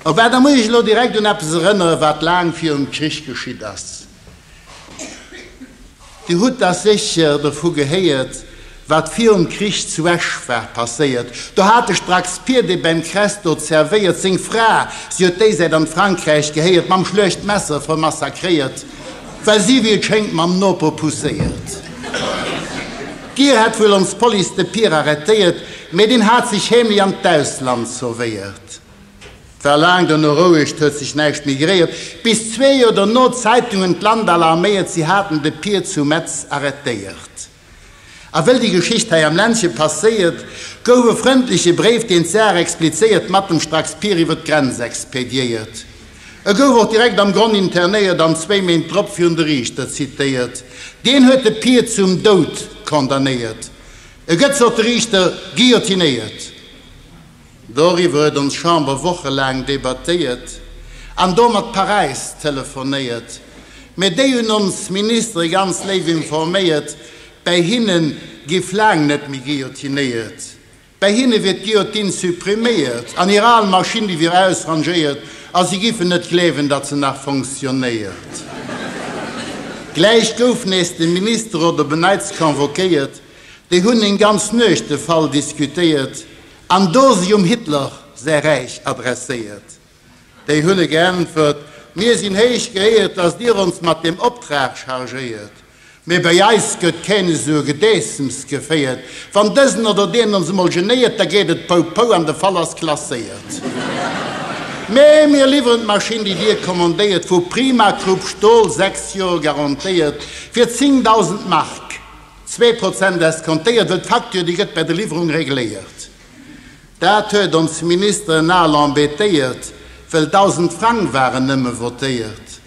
A well da muss ech elo direkt un eppes erënnere wat laang virum Krich geschitt ass. Dir hutt da sécher dovu gehéiert, wat virum Krich zu Esch war passéiert. Do hat de Strax Pier, dee beim Kress dot servéiert, seng Fra, si huet déisäit an d'Frankräich gehéiert, mam schluecht Messer vermassakréiert. well si, wéi et schéngt, mam Noper pousséiert. D'Gier hätt wuel ons Police de Pir arrêtéiert, mee deen hat sech heemlech an d'Ausland sauvéiert. War laang dono roueg, 't huet sech näischt méi geréiert, bis zwee Joer dono d'Zeitungen d'Land alarméiert, si haten de Pir zu Metz arrêtéiert. A wëll déi Geschicht hei am Ländche passéiert, gouf e frëndleche Bréif, deen d'Saach explizéiert, mat dem Stracks Pier iwwer d'Grenz expediéiert. E gouf och direkt am Gronn internéiert an zwéi Méint drop virun de Riichter zitéiert. Deen huet de Pier zum Doud condamnéiert. E gëtt, sot de Riichter, guillotinéiert. Doriwwer huet ons Chamber wochelaang debattéiert an do mat Paräis telefonéiert, mä déi hunn ons Ministere ganz léif informéiert, bäi hinne giff laang net méi guillotinéiert, bäi hinne wier d'Guillotine suppriméiert an hir al Maschinn, déi wier ausrangéiert a si giffen net gleewen, datt se nach fonctionnéiert. Gläich gouf nees de Minister oder beneits convoquéiert, déi hunn eng ganz Nuecht de Fall diskutéiert, An do si um Hitler säi Räich adresséiert. Déi hunn e geäntwert, Mir sinn héich geéiert, datt Dir ons mat deem Optrag chargéiert, mee bäi eis gëtt keen esou e Gedäissems geféiert. Wann dësen oder deen ons emol genéiert, da geet et Pou Pou an de Fall ass klasséiert. Mee mir liwweren d'Maschinn, déi Dir kommandéiert, vu Primacrupp Stol, 6 Joer garantéiert, fir 10.000 Mark. Zwee Prozent escomptéiert, well d'Facture, déi gëtt bäi der Liwwerung regléiert. Dat huet ons Ministeren al embêtéiert, well 1.000 Frang waren nëmme votéiert.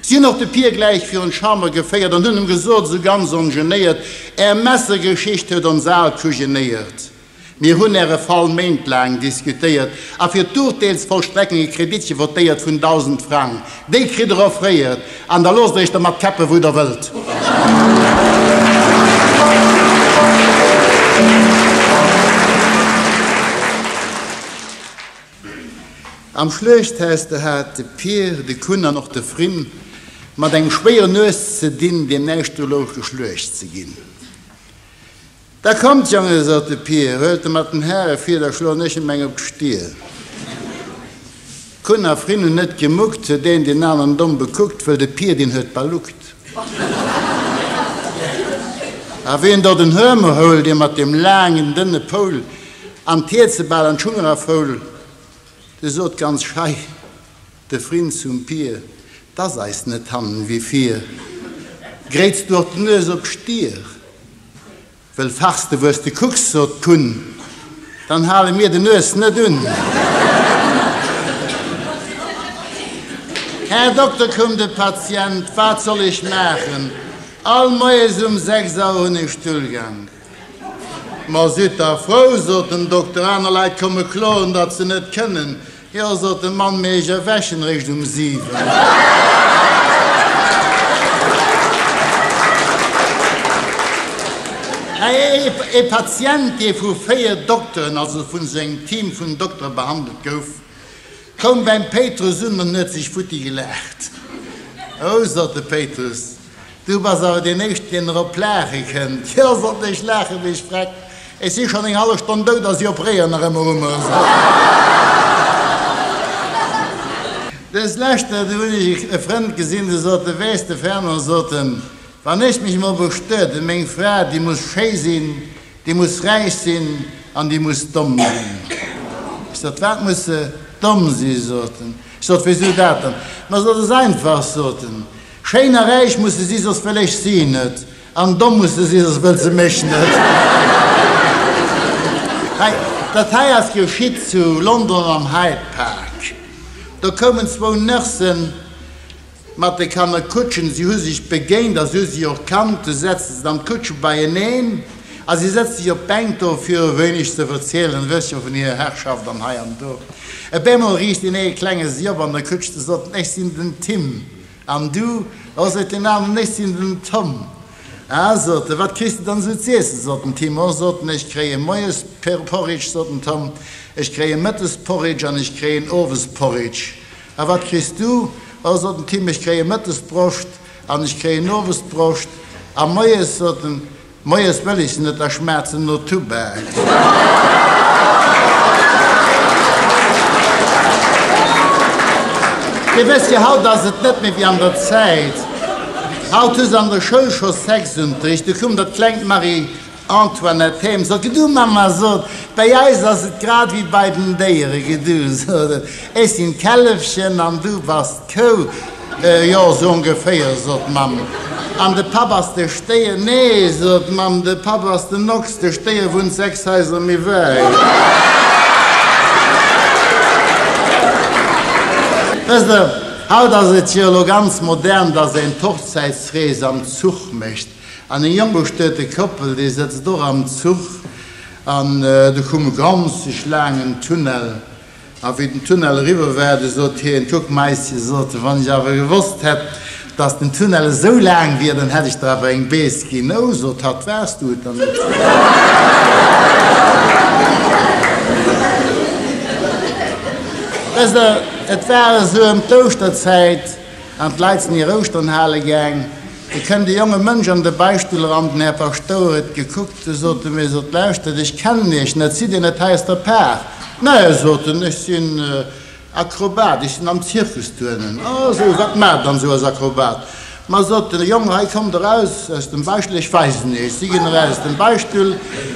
Si hunn och de Pier gläich virun d'Chamber geféiert an hunn em gesot, esou ganz ongenéiert, Är Messegeschicht huet ons al kujenéiert. Mir hunn Äre Fall méintlaang diskutéiert a fir d'Urteelsvollstreckung e Kreditche votéiert vun 1.000 Frang. Déi kritt Der offréiert an da loosst Der Iech dermat käppen, wou Der wëllt. Am Schluechthaus, do hat de Pir, de Kun an och de Frin mat engem schwéieren Nues ze dinn, deem näischt do louch, geschluecht ze ginn. Da kommt, Jonge, sot de Pier, huelt de mat den Häre vir, da schloen ech em eng op d'Stir. Kun a Frin hun nët gemuckt, huet een deen aneren domm bekuckt, wëll de Pier, deen huet baluckt. A ween do den Hörmer houl, dee mat deem laangen, dënne Poul, an d'Hierzebal an d'Schung erafoul, de sot ganz schei, De Frinn zum Pier, 't ass eis net hannen wéi vir. Gréits du och d'Nues op Stier, wëll fachs de wues de kucks, sot d'Kunn, dann hale mir de Nues net un. Här Dokter, koum de Patient, wat soll ech maachen, all moies um sechs Auer hunn ech Stullgank. Ma sidd dach frou, sot den Dokter, aner Leit komme kloen, datt se net kënnen. Jo, sot de Mann, mee ech erwächen réischt um siwen. E Patient, dee vu véier Dokteren, also vun esou engem Team vun Doktere behandelt gouf, koum beim Péitrus un an huet sech futti gelaacht. Oh, sot de Péitrus. Du bass awer deen éischten deen erop laache kënnt. Jo sollt ech laache wéi ech freck. Ech si schonn eng hallef Stonn dout a si operéieren nach ëmmer u mer. Dës leschter do hunn ech e Frënd gesinn, de sot, de weess de Fernand, sot en, wann ech mech emol bestuet hunn, meng Fra déi muss schéi sinn, déi muss räich sinn an déi muss domm sinn. Ech sot, wat muss se domm si? sot en. Ech sot, wéisou dat dann? Ma sot en, ass einfach, sot en. Schéin a räich musse si soss wëll ech si net, an domm musse si soss wëll se mech net. Hei, dat hei ass geschitt zu London am Hyde Park. Do koumen zwou Nursen mat de Kannerkutschen, si hu sech begéint a si hu sech och kannt. Du setze se dann d'Kutsche beieneen a si sëtze sech op d'Bänk do, fir e wéineg ze verzielen e bësschen vun hirer Herrschaft an hei an do. Op eemol richt een ee klenge si op an der Kutsch, de sot, Ech sinn den Tim. An du? O, seet deen aneren, ech sinn den Tom. A, sot e, wat kriss de dann esou z'iessen? sot den Tim. O, sot en, ech kréien moies Porridge, sot den Tom, ech kréien mëttes Porridge an ech kréien owes Porridge. A wat kriss du? O, sot den Tim, ech kréien mëttes Broscht an ech kréien owes Broscht a moies, sot en, Moies wëll ech net a schmatzen no Tubak. Dir wësst jo, haut ass et net méi wéi an der Zäit. Haut hu se an der Schoul scho Sexunterricht. Du koum dat klengt Marie-Antoinette heem, sot, Gedu Mama, sot, bäi eis ass et grad wéi bei den Déieren. Gedu, sot et, ech sinn d'Källefchen an du bass d'Kou. Jo, sou ongeféier, sot d'Mamm. An de Papp ass de Stéier? Nee, sot d'Mamm, de Papp ass den Ochs, de Stéier wunnt sechs Haiser méi wäit. Wësst Der, haut ass et jo elo ganz modern, dass een d'Hochzäitsrees am Zuch mécht. An eng jonk bestuete Koppel, déi sëtzt och am Zuch an do kumm e ganze laangen Tunnel. A wéi den Tunnel eriwwer war, du sot hien, Kuck, Maisje, sot e, wann ech awer gewosst hätt, datt den Tunnel esou laang wier, dann hätt ech der awer eng Bees ginn. Ou, sot hatt, waars du et dann net? Et war esou ëm d'Ouschterzäit an d'Leit sinn hir Ouschtern hale gaang. Et kënnt e jonge Mënsch an de Beichtstull eran, den Här Paschtouer huet gekuckt. Du sot en, Mir sot, Lauschtert, ech kennen iech net, sidd dir net hei aus der Par? Nää, sot en, ech sinn Akrobat, ech sinn am Zirkus tuernen. A sou, wat maacht dann esou als Akrobat? Ma sot en, Jong, hei kommt eraus aus dem Bäischtel, ech weisen iech. Si ginn eraus aus dem Bäischtel,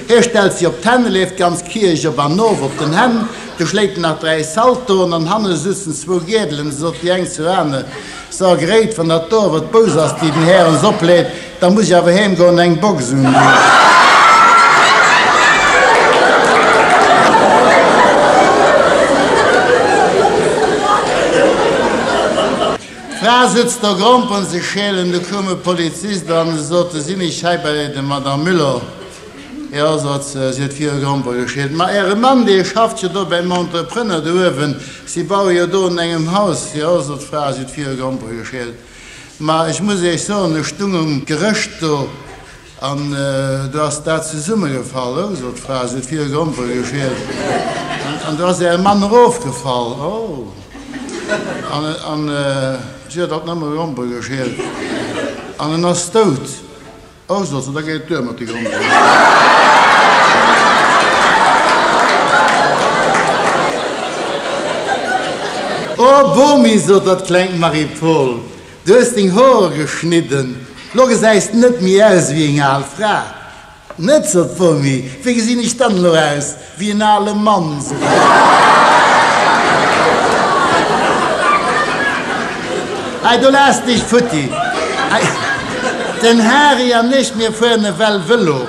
hie stellt si op d'Hänn, leeft d'ganz Kierch op an of op den Hänn, du schléit en nach dräi Saltoen an hanne sutzen zwou Gäerdelen, sot déi eng zur aner, So, Greet, wann dat do awer d'Bous ass, déi den Här ons opleet, da muss ech awer heem goen an eng Box undinn. D'Fra sëtzt do, grompelt sech schälen. Du koum e Polizist an e sot, Du sinn ech hei bei der Madame Müller. Jo, sot se, si huet vir e Gromper geschillt. Ma äre Mann, dee schafft jo do bäim Entrepreneur do uewen. Si baue jo do un engem Haus. Jo, sot d'Fra, si huet vir e Gromper geschillt. Ma ech muss iech soen, ech stung um Gerëscht do an do ass dat zesummegefall. O, sot d'Fra, si huet vir e Gromper geschillt. An do ass äre Mann erofgefall. O, an si huet alt nëmme Gromper geschillt. An en ass dout. Aus also, da geet et duer mat de Grondrechter. Oh Bomi, sot dat klengt Marie-Paul, du hues deng Hoer geschnidden, lo gesäis de net méi aus ewéi eng al Fra. Net, sot d'Bomi, wéi gesinn ech dann elo aus? Wéi en ale Mann, sot de Harry. Hei, do lass dech futti. Hei, den Harry an ech, mir fueren ewell Vëlo.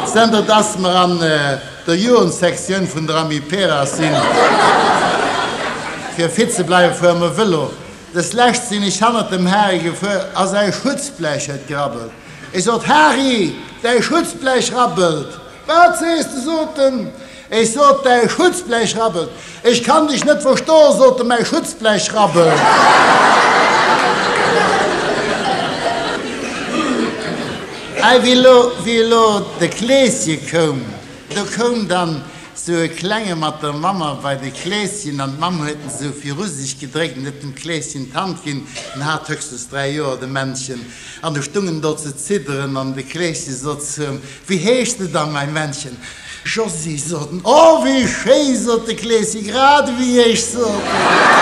Zënter dass mer an der Jugendsektioun vun der Amiperas sinn, fir fit ze bleiwen, fuere mer Vëlo. Dës Lescht sinn ech hannert dem Harry gefuer a säi Schutzblech huet gerabbelt. Ech sot, Harry, däi Schutzblech rabbelt! Wat sees de? sot en. Ech sot, Däi Schutzblech rabbelt. Ech kann dech net verstoen, sot en, mäi Schutzblech rabbelt. A wéi elo, wéi elo de Kleeschen koum, do koum dann esou e Klenge mat der Mamm bei de Kleeschen an d'Mamm huet en esou viru sech gedréckt an huet dem Kleeschen d'Hand ginn. En hat höchstens dräi Joer, de Männchen, an e stung en do ze zidderen an de Kleeschen sot zum. Wéi heescht de dann, mäi Männchen? Josy sot en. O, wéi schéi! sot de Kleesi, grad ewéi ech, sot en.